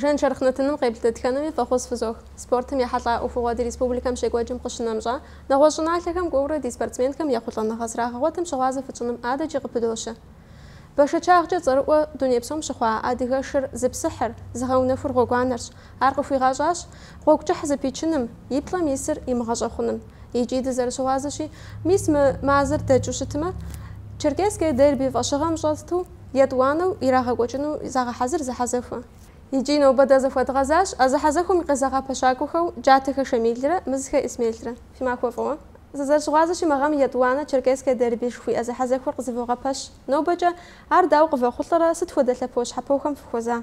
Жаншэрхъ нэтыным къеплъ дэтхэнэми фӏэхъус фызох. Спортым ехьэлӏа ӏуэхугъуэ ди республикэм щекӏуэкӏым къыщынэмщӏэ, нэгъуэщӏ щӏыналъэхэм кӏуэурэ ди спортсменхэм ехъулӏэныгъэ зрагъэгъуэтым щыгъуазэ фытщӏыным адэкӏи къыпыдощэ. Бэшэчагъкӏэ цӏэрыӏуэ дуней псом щыхъуа адыгэ шыр зыпсыхьыр, зыгъэунэхур гъуэгуанэрщ. Ар къыхуигъащӏащ гъуэгу кӏыхь зэпичыным, и плӏэм исыр имыгъэщӏэхъуным. Икӏи дызэрыщыгъуазэщи, мис мы мазэр дэкӏыу щытмэ, Черкесское дерби фӏэщыгъэм щӏэту, етӏуанэу ирагъэкӏуэкӏыну загъэхьэзыр зэхьэзэхуэ. Икӏи нобэ дэ захуэдгъэзащ а зэхьэзэхуэм и къызэгъэпэщакӏуэхэу Джатэхэ Шамилрэ Мызхэ Исмелрэ. Фи махуэ фӏыуэ. Сызэрыщыгъуазэщи, мы гъэм етӏуанэ Черкесское дерби жыхуиӏэ зэхьэзэхуэр къызэвогъэпэщ. Нобэкӏэ, ар дауэ къывэхъулӏэрэ, сыт хуэдэ лъэпощхьэпохэм фыхуэза?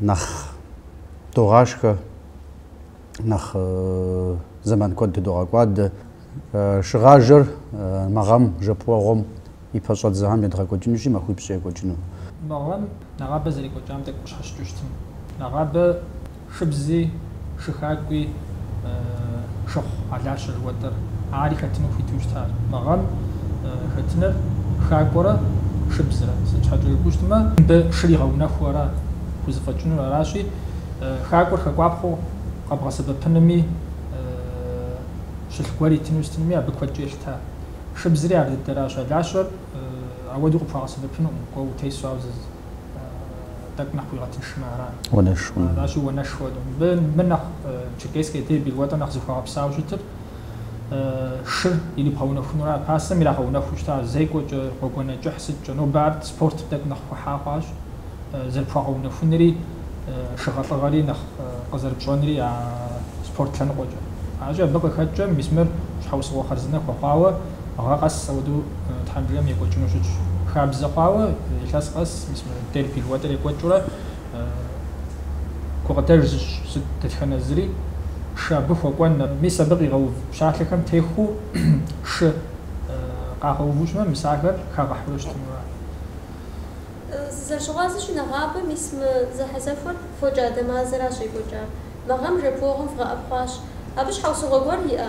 нэхъ догъашхэ, нэхъ зэман куэд тыдогъэкӏуадэ. Шыгъажэр мы гъэм жэпуэгъуэм и пэщӏэдзэхэм едгъэкӏуэкӏынущи, махуипщӏкӏэ екӏуэкӏыну. Мы гъэм нэгъабэ зэрекӏуэкӏам тӏэкӏу къыщхьэщыкӏыу щытын. Нэгъабэ шыбзи. Шы хакӏуи шыхъу алащэ жыхуэтӏэр, ари хэтыну хуиту щытар. Мы гъэм хэтыныр хакӏуэрэ шыбзрэ, сыт щхьэкӏэ жыпӏэу щытмэ, мыбы шыр игъэунэхуу ара хузэфӏэкӏынур, аращи, хакӏуэр хэкӏуапхъэу къэбгъэсэбэпынуми, щылъ гуэр итыну щытынуми абы куэдкӏэ елъыта. Шыбзри ар дыдэращ, алащэр ауэдэу къыпхуагъэсэбэпынукъым, кӏуэ утесу, ауэ тӏэкӏу нэхъ уигъэтыншмэ ара? Уанэшхуэ. Аращи, уанэшхуэ. Мыбы, мыбы нэхъ Черкесское дерби жыхуэтӏэ нэхъ зыхуэгъэпсауэ щытыр шыр ирибгъэунэхунура. Пасэм ирагъэунэхуу щыта зекӏуэкӏэ, гъуэгуанэ кӏыхь сыткӏэ. Нобэ ар спортым тӏэкӏу нэхъ хуэхьа хъуащ. Зэрыпхуэгъэунэхунри, шыгъэлӏыгъэри нэхъ къызэрыпщӏэнри а спорт лъэныкъуэкӏэ. Аращи, абы къыхэкӏкӏэ мис мыр щхьэусыгъуэ хъарзынэ хуэхъуауэ. Гъэ къэс ауэдэу Тхьэм жиӏэмэ екӏуэкӏыну щытщ. Хабзэ хъуауэ илъэс къэс мис мы дерби жыхуэтӏэр екӏуэкӏыурэ гукъыдэж зыщӏ сыт дэтхэнэ зыри, шы абы хуэкӏуэн, мис абы къигъэув пщалъэхэм техуэу шы къагъэуву щытмэ, мис ахэр хагъэхьэурэ щытынура? Сызэрыщыгъуазэщи, нэгъабэ, мис мы зэхьэзэхуэр фокӏадэ мазэращ щекӏуэкӏар. Мы гъэм жэпуэгъуэм вгъэӏэпхъуащ. Абы щхьэусыгъуэ гуэр иӏэ?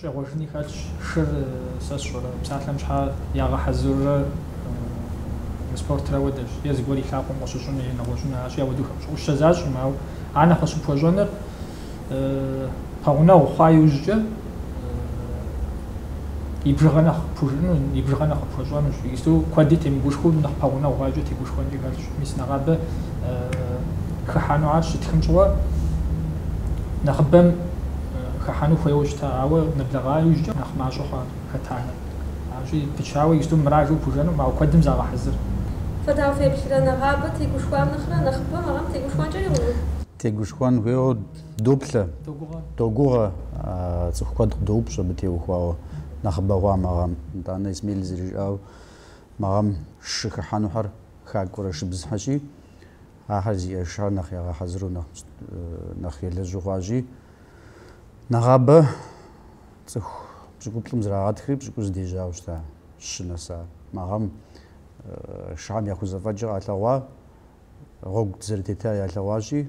Щӏегъуэжыни хэлъщ шыр, сэ сщӏэрэ, псалъэм щхьэ ягъэхьэзырурэ мы спортри ауэдэщ, е зыгуэр и лъакъуэм къыщыщӏыну е нэгъуэщӏыну аращи, ауэдэу хэпщӏыӏущэзащӏэм, ауэ ар нэхъ къыщыпхуэщӏэныр пэгъунэгъу хъуа иужькӏэ и бжыгъэ нэхъ къыпхужыӏэну, и бжыгъэ нэхъ къыпхуэщӏэнущ, иджысту куэди темыгушхуэу нэхъ пэгъунэгъу хъуакӏэ тегушхуэнкӏи хэлъщ, мис нэгъабэ хыхьэну ар щытхым щыгъуэ нэхъыбэм. хыхьэну хуейуэ щыта, ауэ нэблэгъа иужькӏэ нэхъ мащӏэ хъуа хэтахэр. Аращи, пычауэ иджыпсту мыращ жыпӏэу пхужыӏэнукъым, ауэ куэдым загъэхьэзыр. Фэ дауэ феплърэ, нэгъабэ тегушхуам нэхърэ, нэхъыбэм абыхэм тегушхуэнкӏэ иӏэну? Тегушхуэн хуейуэ доплъэ, догугъэ, цӏыху куэд къыдоупщӏ абы теухуауэ нэхъыбэ хъуа мы гъэм. Итӏанэ Исмель зэрыжиӏауэ, мы гъэм шы хыхьэнухэр хакӏуэрэ шыбзхэщи, Ахэр зиӏэ шыхэр нэхъ ягъэхьэзыру, нэхъ елэжьу хъуащи, нэгъабэ цӏыху пщӏыкӏуплӏым зрагъэтхри, пщӏыкӏуз дежьауэ щыта щы нэса. Мы гъэм шыхэм яхузэфӏэкӏыр къалъэгъуа, гъуэгу дызэрытета ялъэгъуащи,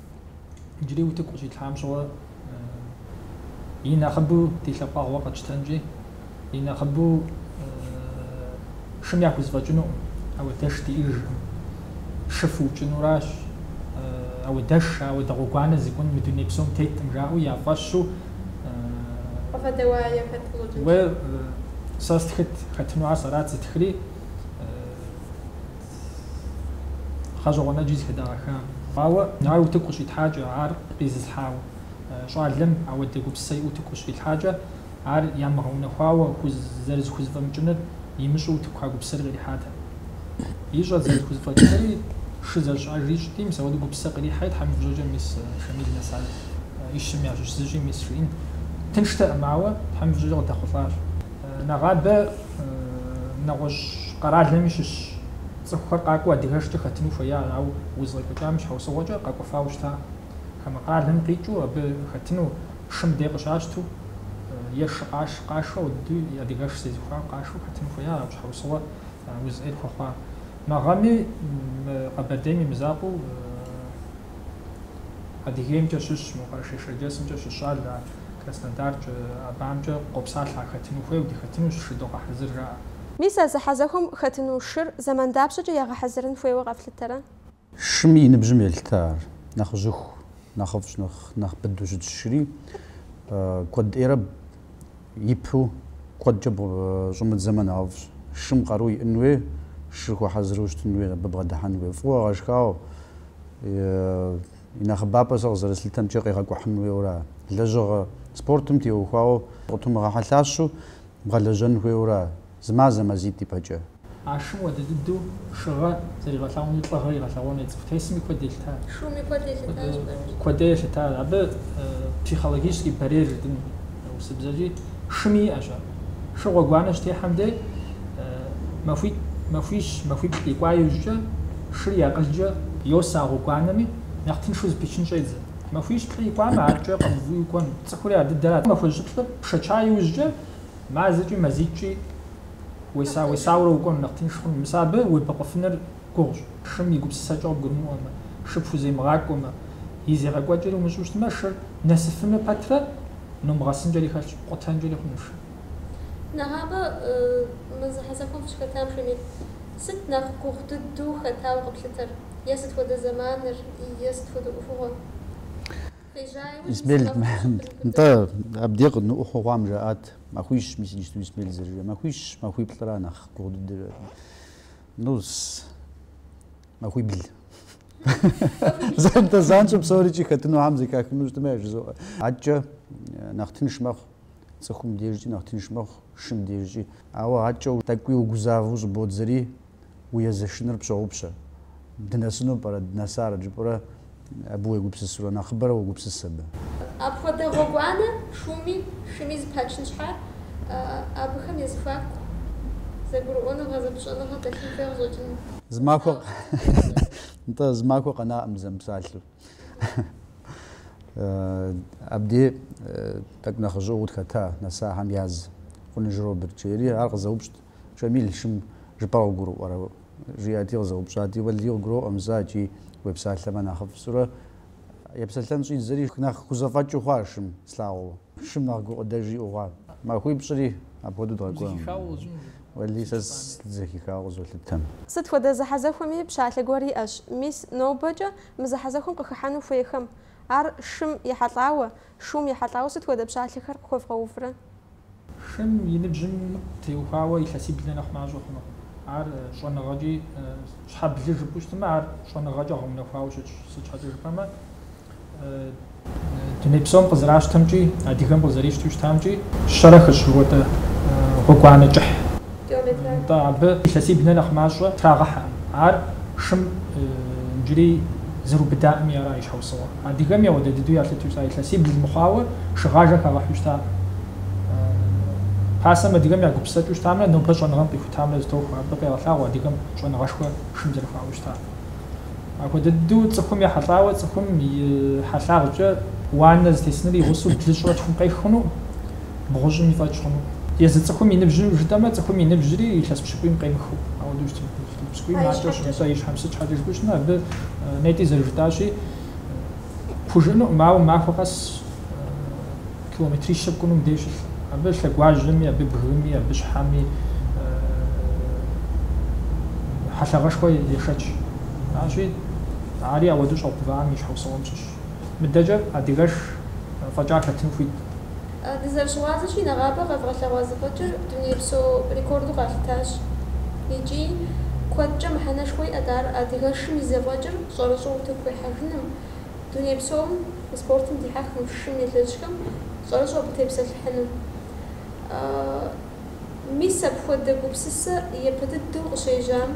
Иджыри утыку къыщитлъхьам щыгъуэ и нэхъыбэу ди лъэпкъэгъу къэтщтэнкӏи, и нэхъыбэу шым яхузэфӏэкӏынукъым, ауэдэш диӏэжкъым. Шы фыукӏынуращ, ауэдэш, ауэдэ гъуэгуанэ зыкӏун мы дуней псом теткъым, жаӏэу я фӏэщу. Къыфэдэуае хэт блокым? Уэ сэ стхыт, хэтынухэр сэрат зытхри. гъэщӏэгъуэн ӏэджи зыхыдагъэха. Ауэ ар утыку къыщрилъхьакӏэ, ар къизылъхьа щӏалэм ауэдэ гупсысэ иӏэу утыку къыщрилъхьакӏэ, ар ямыгъэунэхуауэ хуз зэрызыхузыфӏэмыкӏыныр имыщӏэу утыку а гупсысэри къырихьатэкъым. Ищӏэрт зэрызыхузыфӏэкӏынури, шы зэрыщыӏэжри ищӏти, мис ауэдэ гупсысэ къырихьэри, Тхьэм и фӏыщӏэкӏэ, мис Шамил нэса ищым ящыщ зыщи, мис жиӏэн тынштэкъым, ауэ Тхьэм и фӏыщӏэкӏэ къыдэхъулӏащ. Нэгъабэ. нэгъуэщӏ къэралми щыщ цӏыхухэр къакӏуэу адыгэшкӏэ хэтыну хуеящ, ауэ уз къекӏуэкӏам и щхьэусыгъуэкӏэ къэкӏуэфауэ щытакъым. Хамэ къэралым къикӏыу абы хэтыну шы мыбдей къыщащту е шы къаш, къашэу дыдэу адыгэш зезыхуауэ къашэу хэтыну хуеящ, ауэ щхьэусыгъуэ уз ӏейр хуэхъуа. Мы гъэми мы Къэбэрдейм и мызакъуэу Адыгеймкӏэ щыщ, мо Къэрэшей-Шэрджэсымкӏэ щыщ щӏалэхэр, Краснодаркӏэ, абыхэмкӏэ къопсалъэхэр хэтыну хуейуэ, дыхэтынущ, шы догъэхьэзыр, жаӏэ. Мис а зэхьэзэхуэм хэтыну шыр зэман дапщэкӏэ ягъэхьэзырын хуейуэ къэфлъытэрэ? Шым и ныбжьым елъыта ар. Нэхъыжьыху, нэхъыфӏщ, нэхъ нэхъ быдэу щытщ шыри. Куэд ӏейрэ ипу куэдкӏэ щӏумыдзэмэ нэхъыфӏщ. Шым къару иӏын хуей, шыр хуэхьэзыру щытын хуей, абы бгъэдыхьэн хуей. Фӏыуэ гъэшхауэ, и нэхъыбапӏэр сэ къызэрыслъытэмкӏэ къегъэкӏухьын хуейуэра, лэжьыгъэ спортым теухуауэ къытумыгъэхьэлъащу бгъэлэжьэн хуейуэра? зы мазэ мазитӏ ипэкӏэ. А шым уэдэ дыдэу шыгъэ зэригъэлъэгъуэми, лӏыгъэ игъэлъэгъуэну е цӏыху тесми куэд елъытащ. Шуми куэд елъытащ, бажэщ. Куэд елъытащ. Абы психологический барьер жытӏэн урысыбзэкӏи, шыми иӏэщ ар. Шы гъуэгуанэ щытехьэм дей, махуитӏ, махуищ, махуиплӏ икӏуа иужькӏэ, шыр и акъылкӏэ йосэ а гъуэгуанэми, нэхъ тыншу зыпичын щӏедзэ. Махуищ плӏы икӏуамэ, адкӏэ къэмыувыӏэу кӏуэнут. Цӏыхури а дыдэрат. Махуищ-плӏыр пшэча иужькӏэ, Мазэкӏи мазитӏкӏи уеса-уесауэрэ укӏуэну нэхъ тынш хъуну? Мис абы уебэкъуфыныр гугъущ. Шым и гупсысэкӏэ къыбгурымыӏуэмэ, шы пхуземыгъакӏуэмэ, и зегъэкӏуэкӏэри умыщӏу щытмэ, шыр нэсыфыну пэтрэ нумыгъэсынкӏэри хэлъщ, къутэнкӏэри хъунущ шыр. Нэгъабэ мы зэхьэзэхуэм фыщыхэтам хуимейт. Сыт нэхъ гугъу дыдэу хэтауэ къэплъытэр? Е сыт хуэдэ зэманыр, е сыт хуэдэ ӏуэхугъуэр? Исмел, нтӏэ, абди къыдныӏуэу хъу хъуам, жаӏат, махуищ, мис иджысту Исмел зэрыжиӏа махуищ, махуиплӏра нэхъ гугъу дыдэр. Ну, махуибл. Нтӏэ, занщӏэу псорикӏи хэтынухэм зэхахыну щытмэ, жызоӏэ. Адкӏэ нэхъ тынш мэхъу, цӏыхум дежкӏи нэхъ тынш мэхъу, шым дежкӏи. Ауэ адкӏэ тӏэкӏуи угузавэу щӏыбодзэри, уи езэшыныр пщогъупщэ, дынэсыну пӏэрэ, дынэсарэт жыпӏурэ абы уегупсысурэ, нэхъыбэрэ уогупсыс абы. Апхуэдэ гъуэгуанэ шуми шыми зыпачын щхьа, абыхэм я зэхуаку зэгурыӏуэныгъэ, зэпыщӏэныгъэ дэлъын хуей къыщӏэкӏыну. Зы махуэ, нтӏэ, зы махуэ къэнакъым семыпсалъэу. Абди тӏэкӏу нэхъыжьыӏуэу къытхэта нэсахэм яз Къуныжь Роберт жери, ар къызэупщӏт. Шамил, шым жыпӏэр къыгурыӏуэрэ? жиӏэти къызэупщӏати, Уэлий, къыгуроӏуэм сэ икӏи уепсалъэмэ нэхъыфӏ сщӏурэ. Епсэлъэн щӏидзэри, нэхъ хузэфӏэкӏыу хъуа шым слъагъуу? Шым нэхъ гукъыдэж иӏэу хъуа? Махуипщӏри апхуэдэу дгъэкӏуэ. Уэлий, сэ сызэхихауэ къызолъытэ. Сыт хуэдэ зэхьэзэхуэми пщалъэ гуэр иӏэщ, мис нобэкӏэ мы зэхьэзэхуэм къыхыхьэну хуейхэм. Ар шым ехьэлӏауэ, Шум ехьэлӏауэ сыт хуэдэ пщалъэхэр къыхуэвгъэуврэ? Шым и ныбжьым теухуауэ илъэсиблэ нэхъ мащӏэ хъунукъым. Ар щӏэныгъэкӏи, щхьэ блы жыпӏэу щытмэ, ар щӏэныгъэкӏэ гъэунэхуауэ щытщ. Сыт щхьэкӏэ жыпӏэмэ, дуней псом къызэращтэмкӏи, адыгэм къызэрищтэу щытамкӏи, щэрэ хыщӏ жыхуэтӏэ гъуэгуанэ кӏыхь. Нтӏэ, абы илъэсибл нэ нэхъ мащӏэ трагъэхьэкъым. Ар шым иджыри зэрубыдакъыми ара и щхьэусыгъуэр. Адыгэми ауэдэ дыдэу ялъыту щыта илъэсибл мыхъуауэ шыгъажэ хагъэхьу щытакъым. Пасэм адыгэм я гупсысэкӏэу щытамрэ нобэ щӏэныгъэм къихутамрэ зытохуэ, абы къегъэлъагъуэ адыгэм щӏэныгъэшхуэ шым зэрыхуаӏэу щытар. Апхуэдэ дыдэу цӏыхум ехьэлӏауэ цӏыхум и хьэлъагъкӏэ уанэ зытесыныр игъусэу блыщӏрэ тхум къех хъунукъым. бгъущӏым и фӏэкӏ хъуну. Езы цӏыхум и ныбжь жытӏэмэ, цӏыхум и ныбжьри илъэс пщыкӏуийм къемыхыу. Ауэдэу щытын хуейщ. Илъэс пщыкӏуийм А и макӏуэ щӏын, щхьэкӏэ. сэ и щхьэм сыт щхьэкӏэ жыпӏэу щытмэ, абы нетӏи зэрыжытӏащи, пхужыӏэнукъым, ауэ махуэ къэс километрищэ пкӏуну мыбдеж щылъ. Абы лъэгуажьэми, абы бгыми, абы щхьэми хьэлъагъэшхуэ ешэч. Аращи, ари ауэдэу щӏагъэувам и щхьэусыгъуэм щыщщ. Мыдэкӏэ адыгэш фӏэкӏа хэтыну хуит. Дызэрыщыгъуазэщи, нэгъабэ къэвгъэлъэгъуа зэфӏэкӏыр дунейпсо рекорду къалъытащ икӏи куэдкӏэ мыхьэнэшхуэ иӏэт ар адыгэшым и зэфӏэкӏыр щӏэрыщӏэу утыку ихьэжыным, дуней псом и спортым дихьэхым, шым елэжьхэм щӏэрыщӏэу абы тепсэлъыхьыным. Мис апхуэдэ гупсысэ япэ дыдэу къыщежьам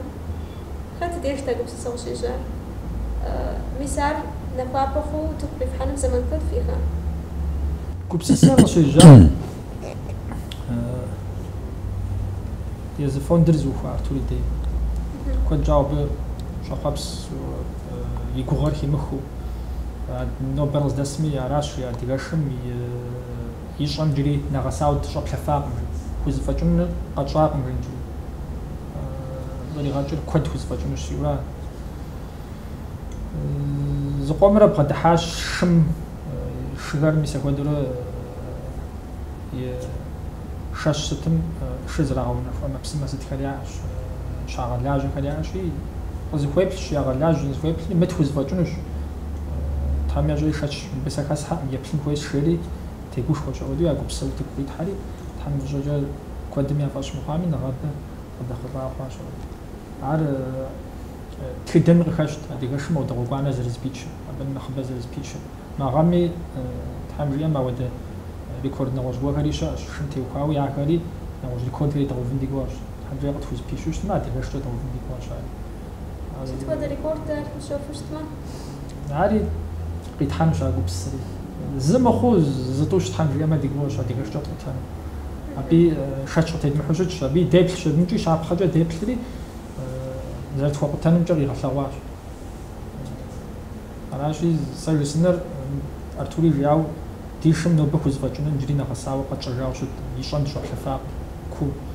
хэт дежт а гупсысэ къыщежьар? Мис ар нахуапэ хъууэ утыку къифхьэным зэман куэд ихьа? Гупсысэ къыщежьам езы фондыр зыухуа Артур и дей. Куэд щӏауэ абы щӏэхъуэпс и гугъэр химыхыу. Нобэр къыздэсми аращ и адыгэшым и И щӏэм джыри нэгъэсауэ дыщӏэплъэфакъым жи. Хузэфӏэкӏынур къэтщӏакъым жи иджыри. Зэригъэкӏыр куэд хузэфӏэкӏынущ жиӏэурэ зыкъомрэ бгъэдыхьащ шым шыгэр мисэ хуэдэурэ и шэщ сытым шы зэрагъэунэху ӏэмэпсымэ сытхэр яӏэщ, щагъэлажьэхэр яӏэщи, къызыхуеплъщ, ягъэлажь, зызыхуеплъри мыт хузэфӏэкӏынущ. Тхьэм ещӏэри шэч мыбы сэ хэсхьэкъым, еплъын хуейщ, жери тегушхуэ щӏыӏуэкӏэ а гупсысэр утыку къитхьэри, Тхьэм и фӏыщӏэкӏэ куэдым я фӏэщ мыхъуами, нэгъабэ къыдэхъулӏауэ хъуащ абы. Ар тхыдэми къыхэщт, адыгэшым ауэдэ гъуэгуанэ зэрызыпичыр, абы нэхъыбэ зэрызыпичыр. Мы гъэми, Тхьэм жиӏэм, ауэдэ рекорд нэгъуэщӏ гуэрхэри щыӏэщ, шым теухуауэ ахэри, нэгъуэщӏ рекордхэри дгъэувын ди гугъэщ. Тхьэм къытхузыпищэу щытмэ, адыгэшкӏэ дгъэувын ди гугъэщ ари. Сыт хуэдэ рекорд ар мыщэхуу щытмэ? Ари къитхьэнущ а гупсысэри. Зы мыхъуу зытӏущ, Тхьэм жиӏэмэ, ди гугъэщ адыгэшкӏэ ткъутэну. Аби шэч къытедмыхьу щытщ, аби деплъщ, абымкӏи щапхъэкӏэ деплъри зэрытхуэкъутэнымкӏэ къигъэлъэгъуащ. Аращи, сэ жысӏэныр Артури жиӏауэ ди шым нобэ хузэфӏэкӏынум иджыри нэгъэсауэ къэтщӏэжауэ щыт, и щӏэм дыщӏэплъэфакъым, куу.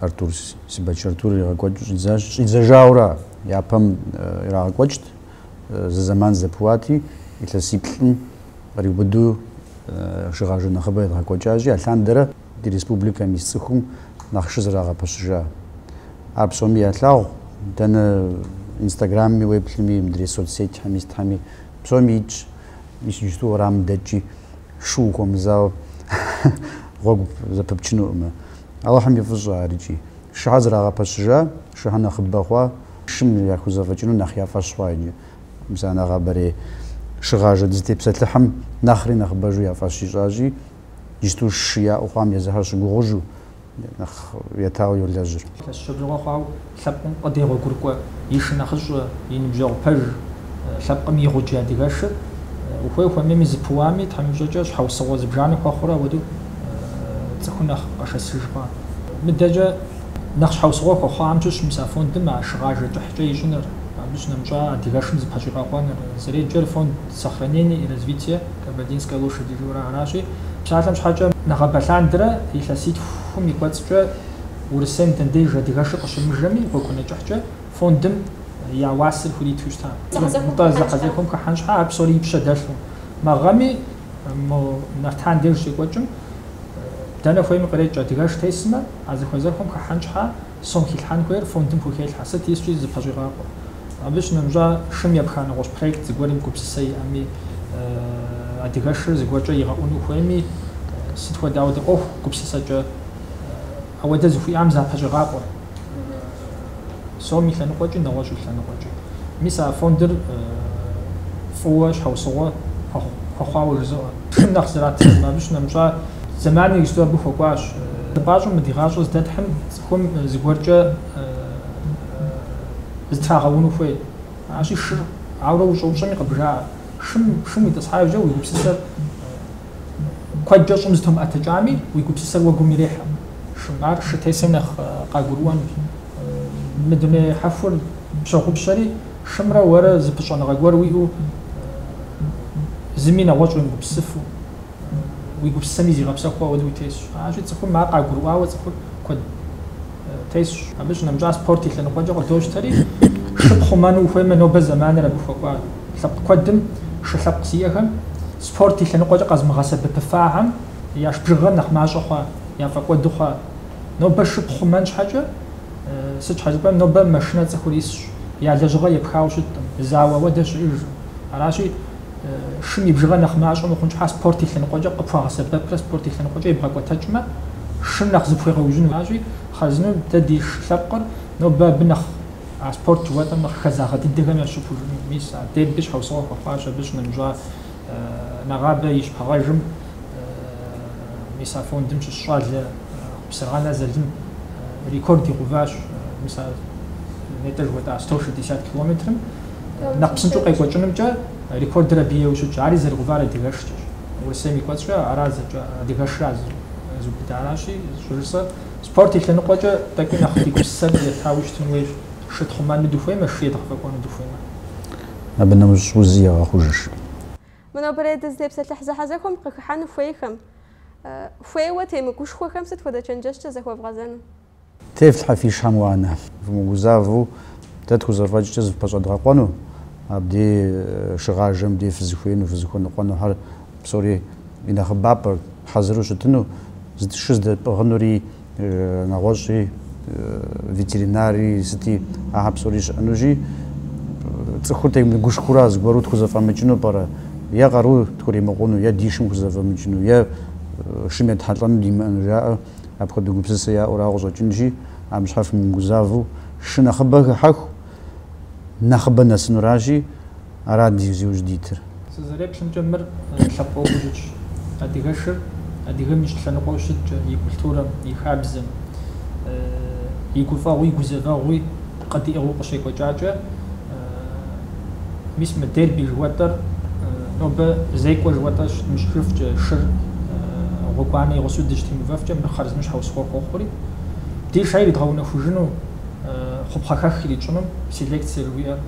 Артур Сибэч Артур иригъэкӏуэкӏыу щӏидзащ. Щӏидзэжауэра, япэм ирагъэкӏуэкӏт, зы зэман зэпыуати, илъэсиплӏым къриубыду шыгъажэ нэхъыбэ едгъэкӏуэкӏащи, алъандэрэ ди республикэм ис цӏыхум нэхъ шы зэрагъэпэщыжа. Ар псоми ялъагъу, дэнэ инстаграмми, уеплъми, мыдрей соцсетьхэми сытхьэми, псоми итщ. Мис иджысту уэрамым дэкӏи, шу ухуэмызауэ гъуэгу зэпыпчынукъымэ. Алыхьым и фӏыщӏэ ар икӏи. Шыхьэ зрагъэпэщыжа, шыхьэ нэхъыбэ хъуа, шым яхузэфӏэкӏыну нэхъ я фӏэщ хъуа икӏи. Мис а нэгъабэрей шыгъажэ дызытепсэлъыхьым нэхъри нэхъыбэжу я фӏэщ ищӏащи, иджыпсту шы яӏэу хъуам езыхьэр щыгугъужу, нэхъ етауэ йолэжьыр. Илъэс пщӏы бжыгъэ хъуау Лъэпкъым къыдегъуэгурыкӏуэ и шынэхъыщӏэ, и ныбжьэгъу пэж, лъэпкъым и гъуджэ адыгэшыр, ухуей ухуэмейми зыпыуами, Тхьэм и фӏыщӏэкӏэ щхьэусыгъуэ зыбжанэ хуэхъурэ ауэдэу цӏыхур нэхъ къэшэсыжкъэ. Мыдэкӏэ нэхъ щхьэусыгъуэ хуэхъуам щыщ мис а фондым а шыгъажэ кӏыхькӏэ ищӏыныр, абы щынэмыщӏа адыгэшым зыпэщӏигъэкъуэныр. Зэреджэр фонд Сохранение и развитие Кабардинской лошади жыурэ аращи, псалъэм щхьэкӏэ нэгъабэ лъандэрэ илъэситхум и кӏуэцӏкӏэ, Урысейм дэ деж адыгэшыр къыщымыжэми, гъуэгуанэ кӏыхькӏэ фондым я уасэр хуриту щыта. Нтӏэ, зэхьэзэхуэм хыхьэн щхьа, ар псори и пщэ дэлъу. Мы гъэми мо Нартан деж щекӏуэкӏым, дэнэ хуейми кърекӏ, адыгэш тесмэ, а зэхьэзэхуэм хыхьэн щхьа, сом хилъхьэн хуейр фондым хухелъхьэ, сыт искӏи зыпэщӏигъакъуэ. Абы щынэмыщӏа, шым епха нэгъуэщӏ проект зыгуэрым гупсысэ иӏэми, адыгэшыр зыгуэркӏэ игъэӏуну хуейми, сыт хуэдэ ауэдэ ӏуэху гупсысэкӏэ, Ауэдэ зыхуиӏам запэщӏегъакъуэ сом и лъэныкъуэкӏи, нэгъуэщӏ и лъэныкъуэкӏи. Мис а фондыр фӏыуэ щхьэусыгъуэ хуэхъуауэ жызыӏэ. Шым нэхъ зратыжым абы щынэмыщӏа зэманыр иджыпсту абы хуэкӏуащ. Дыпӏащӏэу мы ди гъащӏэр здэтхьым цӏыхум зыгуэркӏэ зытрагъэуну хуей. Аращи, шыр, ауэрэ ущӏэупщӏэми къыбжаӏэ, шым, шым уитӏысхьа иужькӏэ уи гупсысэр Куэдкӏэ щӏым зытумыӏэтыкӏами, уи гупсысэр уэгум ирехьэ. Ар шы тесым нэхъ къагурыӏуэнущ. Мы дуней хьэхур пщогъупщэри, шымрэ уэрэ зы пыщӏэныгъэ гуэр уиӏэу, зыми нэгъуэщӏ уемыгупсысыфу, уи гупсысэми зигъэпсэхуу ауэдэу утесщ. Аращи, цӏыхум ар къагурыӏуауэ цӏыхур куэд. тесщ. Абы щынэмыщӏа спорт и лъэныкъуэкӏэ къыдощтэри, шы пхъумэну ухуеймэ, нобэ зэманыр абы хуэкӏуа лъэпкъ куэдым, шы лъэпкъ зиӏэхэм, спорт и лъэныкъуэкӏэ къэзмыгъэсэбэпыфахэм яш бжыгъэр нэхъ мащӏэ хъуа, яфӏэкӏуэду хъуа. Нобэ шы пхъумэн щхьэкӏэ, сыт щхьэ жыпӏэм, нобэ машинэ цӏыхур исщ, я лэжьыгъэ епхауэ щыткъым, зауэ ауэдэ щыӏэж. Аращи, шым и бжыгъэр нэхъ мащӏэ мыхъун щхьа спорт и лъэныкъуэкӏэ къыпхуагъэсэбэпрэ спорт и лъэныкъуэкӏэ ебгъэкӏуэтэкӏмэ, шым нэхъ зыпхуегъэужьыну. Аращи, хъарзынэу дэ ди ш лъэпкъыр нобэ абы нэхъ а спорт жыхуэтӏэм нэхъ хэзагъэ дыдэхэм ящыщ хъужыну. Мис а дерби щхьэусыгъуэ хуэхъуащ абы щынэмыщӏа нэгъабэ и шыгъажэм, мис а фондым щыщ щӏалэ Хъупсырджэн Залым рекорд игъэуващ мис а нетӏэ жыхуэтӏа сто шестьдесят километрым. Нэхъ псынщӏэу къекӏуэкӏынымкӏэ рекордыр абы ейуэ щытщ. Ари зэригъэувар адыгэшкӏэщ. Урысейм и кӏуэцӏкӏэ ара зэкӏэ адыгэшыр ара зыубыдар. Аращи, щӏыжысӏэр, спорт и лъэныкъуэкӏэ тӏэкӏуи нэхъ ди гупсысэр етауэ щытын хуейщ. Шы тхъумэну дыхуеймэ, шы едгъэфӏэкӏуэну дыхуеймэ. Абы нэмыщӏ узи егъэхъужыж. Мы нобэрей дызытепсэлъыхь зэхьэзэхуэм къыхыхьэну хуейхэм, хуейуэ темыгушхуэхэм сыт хуэдэ чэнджэщкӏэ захуэвгъэзэну? Тефлъхьэ фи шыхэм уанэ. Фымыгузавэу, дэ тхузэфӏэкӏкӏэ зыфпэщӏэдгъэкъуэну, абдей шыгъажэм дей фызыхуеину, фызыхуэныкъуэнухэр псори и нэхъыбапӏэр, хьэзыру щытыну, сыт, шы здэпӏыгъынури, нэгъуэщӏи, ветеринари, сыти, ахэр псори щыӏэнущи, цӏыхур темыгушхуэурэ зыгуэру тхузэфӏэмыкӏыну пӏэрэ? Е къару тхуримыкъуну, е ди шым хузэфӏэмыкӏыну, е шым етхьэлӏэну димыӏэну жаӏэ. Апхуэдэ гупсысэ яӏэурэ къыщӏэкӏынщи, абы щхьа фымыгузавэу, шы нэхъыбэ хыхьэху, нэхъыбэ нэсынуращи, арат зи ужь дитыр. Сызэреплъымкӏэ, мыр лъэпкъ ӏуэхуу щытщ. Адыгэшыр адыгэм и щӏэлъэныкъуэу щыткӏэ, и культурэм, и хабзэм, и гуфӏэгъуи и гузэвэгъуи. Къыдиӏыгъыу къыщекӏуэкӏакӏэ, мис мы дерби жыхуэтӏэр нобэ зекӏуэ жыхуэтӏэ щыдмыщӏыжыфкӏэ, шыр гъуэгуанэ и гъусэу дыщытемыувэфкӏэ, мыр хъарзынэу щхьэусыгъуэ хуэхъури, ди шыр иридгъэунэхужыну, хъупхъэхэх иритщӏыну, селекцэ жыхуиӏэр,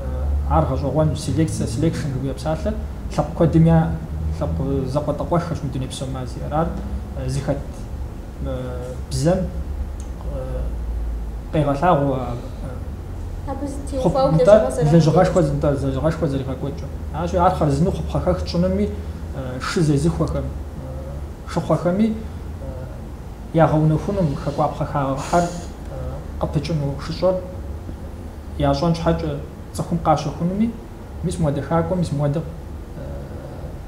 ар гъэщӏэгъуэну, селекцэ, selection жыхуиӏэ псалъэр лъэпкъ куэдым я лъэпкъ закъуэтӏакъуэххэщ мы дуней псом ар зиӏэр, ар зыхэт. бзэм къегъэлъагъуэ лэжьыгъэшхуэ зынтӏэ лэжьыгъэшхуэ зэригъэкӏуэкӏыр. Ащи ар хъарзыну хъупхъэхэх тщӏынуми шы зезыхуэхэм шыхъуэхэми ягъэунэхуну хэкӏуапхъэ хагъэхьэр къыпыкӏыну шыщӏэр ящӏэн щхьэкӏэ цӏыхум къащэхунуми Мис муадэ хакӏуэ, мис муадэ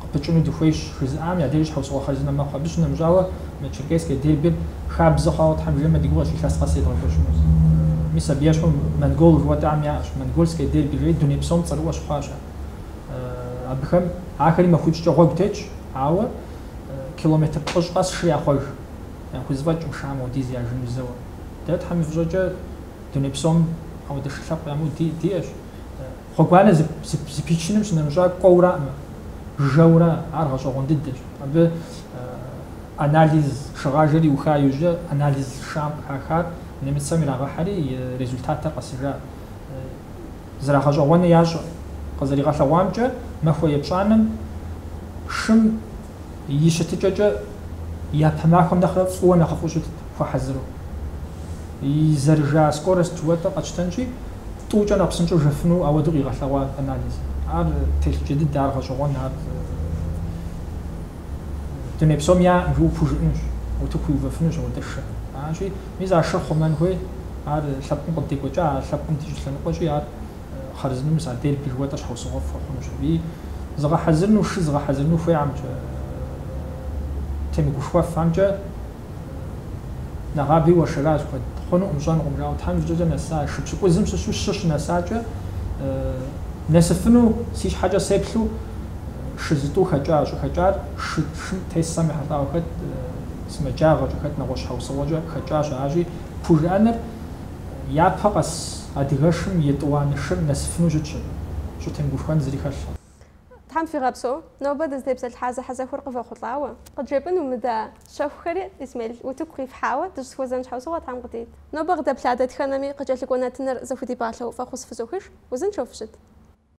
къыпыкӏыну дыхуейщ жызыӏам я дежи щхьэусыгъуэ хъарзынэ мэхъу. Абы щынэмыщӏауэ, мы Черкесскэ дербир хабзэ хъуауэ, Тхьэм жиӏэмэ, ди гугъэщ илъэс къэс едгъэкӏуэкӏыну. Мис абы ещхьу монгол жыхуэтӏам яӏэщ, Монгольское дерби жери дуней псом цӏэрыӏуэ щыхъуащ ар. Абыхэм, ахэри махуипщӏкӏэ гъуэгу тетщ, ауэ километр плӏыщӏ къэс шыр яхъуэж, яхузэфӏэкӏкъым шым апхуэдиз яжыну зэуэ. Дэ, Тхьэм и фӏыщӏэкӏэ, дуней псом ауэдэ шы лъэпкъ ямыӏэу диӏэщ. Гъуэгуанэ зэпичыным щынэмыщӏа кӏуэураӏымэ, жэурэ, ар гъэщӏэгъуэн дыдэщ. Абы анализ шыгъажэр иуха иужь, анализ шым къыхахар нэмыцэм ирагъэхьри, и результатыр къэсыжа. Зэрагъэщӏэгъуэну ящӏэ. Къызэригъэлъэгъуамкӏэ, махуэ епщӏанэм шым И щытыкӏэкӏэ япэ махуэм нэхърэ фӏыуэ нэхъыфӏу щытт, хуэхьэзыру. И зэрыжа скорость жытӏэу къэтщтэнщи, тӏукӏэ нэхъ псынщӏэу жэфыну ауэдэу къигъэлъэгъуа анализ. Ар телъыджэ дыдэ, ар гъэщӏэгъуэн, ар дуней псом щыпхужыӏэнущ, утыку иувэфынущ ауэдэ шыр. Аращи, мис а шыр хъумэн хуей, ар лъэпкъым къыддекӏуэкӏа, а лъэпкъым ди щӏылъэныкъуэщи, ар хъарзынэу мис отдел жыхуэтӏэр щхьэусыгъуэфӏ хуэхъунущ аби. Зыгъэхьэзырыну, шы зыгъэхьэзырыну хуейхэмкӏэ, темыгушхуэфамкӏэ нэгъаби уэршэращ куэд. Хъунукъым, щӏэнукъым жаӏэу. Тхьэм и фӏыщӏэкӏэ нэса, шы пщыкӏузым щыщу щы щынэсакӏэ нэсыфыну си щхьэкӏэ сеплъу шы зытӏу хэкӏа, щӏыхэкӏар шы шым тесам ехьэлӏауэ хэт, сымаджагъэкӏэ хэт, нэгъуэщӏ щхьэусыгъуэкӏэ хэкӏащ аращи, пхужыӏэнур. япэ къэса адыгэшым етӏуанэ шыр нэсыфыну щытщи, щӏытемыгушхуэн зыри хэлъу. Тхьэм фигъэпсэу, нобэ дызытепсэлъыхьа зэхьэзэхуэр къывэхъулӏауэ. Къыджепӏэн умыда щэхухэри, Исмел, утыку къифхьауэ, дыщӏызэхуэзэн щхьэусыгъуэ Тхьэм къыдит. Нобэ къыдэплъа дэтхэнэми къыкӏэлъыкӏуэ нэтыныр зэхудипӏалъэу фӏэхъус фызохыж, узыншэу фыщыт.